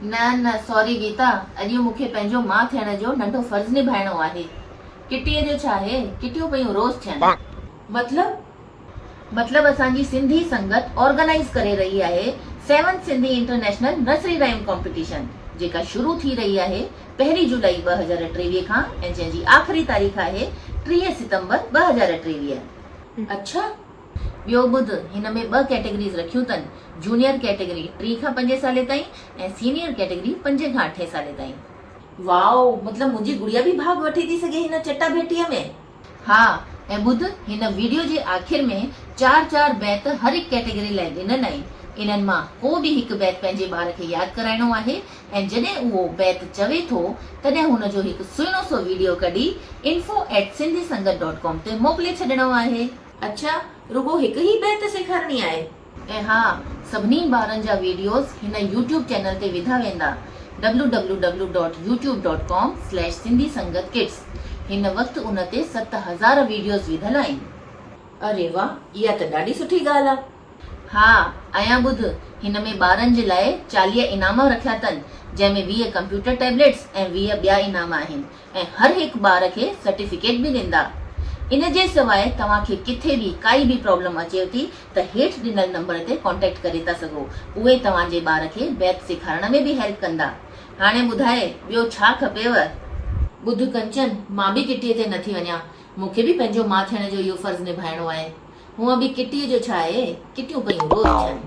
نه نه ساري گيتا، اڄ مون کي پنهنجو ماء ٿيڻ جو ننڍو فرض نڀائڻو آهي. ڪٽيء جو ڇا هي، ڪٽيون پيون روز ٿين. مطلب؟ مطلب اسان جي سنڌي سنگت آرگنائيز ڪري رهي آهي seventh Sindhi international nursery rhyme competition جيڪا شروع ٿي رهي آهي پهرين جولائي ٻه هزار ٽيويهه کان ۽ جنهن جي آخري تاريخ آهي ٽيهه ستمبر ٻه هزار ٽيويهه. اڇا ٻيو ٻڌ، هن ۾ ٻه ڪيٽيگريز رکيون تن، جونيئر ڪيٽيگري ٽي کان پنجين سالين تائين ۽ سينيئر ڪيٽيگري پنجين کان اٺين سالين تائين. واؤ مطلب منهنجي گڙيا به ڀاڳ وٺي ٿي سگهي هن چٽا ڀيٽيء ۾. ها ۽ ٻڌ هن ويڊيو جي آخر ۾ چار چار بيت هر هڪ ڪيٽيگري لاء ڏنن آهن انهن مان ڪو به هڪ بيت پنهنجي ٻار کي ياد ڪرائڻو آهي ۽ جڏهن اهو بيت چوي ٿو تڏهن هن جو هڪ سهڻو سو ويڊيو ڪڍي info@sindhisangat.com تي موڪلي ڇڏڻو آهي. اڇا رڳو هڪ هي بيت سيکارڻي آهي. ۽ ها سڀني ٻارن جا ويڊيوز هن يوٽيوب چينل تي وڌا ويندا www dot YouTube dot com slash Sindhi Sangat kids هن وقت ان تي ست هزار ويڊيوز وڌل آهن. اري واه اها ته ڏاڍي سٺي ڳالهه آ. ها ايان ٻڌ هن ۾ ٻارن جي لاء چاليهه انعام رکيا تن جنهن ۾ ويهه ڪمپيوٽر ٽيبليٽس ۽ ويهه ٻيا انعام آهن ۽ هر هڪ ٻار کي سرٽيفڪيٽ به ڏيندا ان جي سواء توهان کي ڪٿي به ڪائي به پرابلم اچيو ٿي ته هيٺ ڏنل نمبر تي ڪانٽيڪٽ ڪري ٿا سگهو اهي توهان جي ٻار کي ميٿ سيکارڻ ۾ به هيلپ ڪندا هاڻي ٻڌاء ٻيو ڇا کپيو. ٻڌ ڪنچن مان به ڪٽي تي نٿي وڃان مون کي به پنهنجو ماء ٿيڻ جو اهو فرض نڀائڻو آهي هونء به ڪٽيء جو ڇا آهي، ڪٽيون پيون روز ٿين.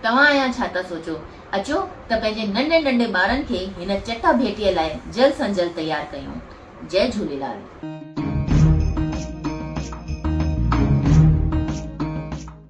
توهان اڃا ڇا ٿا سوچو، اچو ته پنهنجي ننڍي ننڍي ٻارن کي هن چٽا ڀيٽيء لاء جلد سان جلد تيار ڪيون. جئه جهوليلال.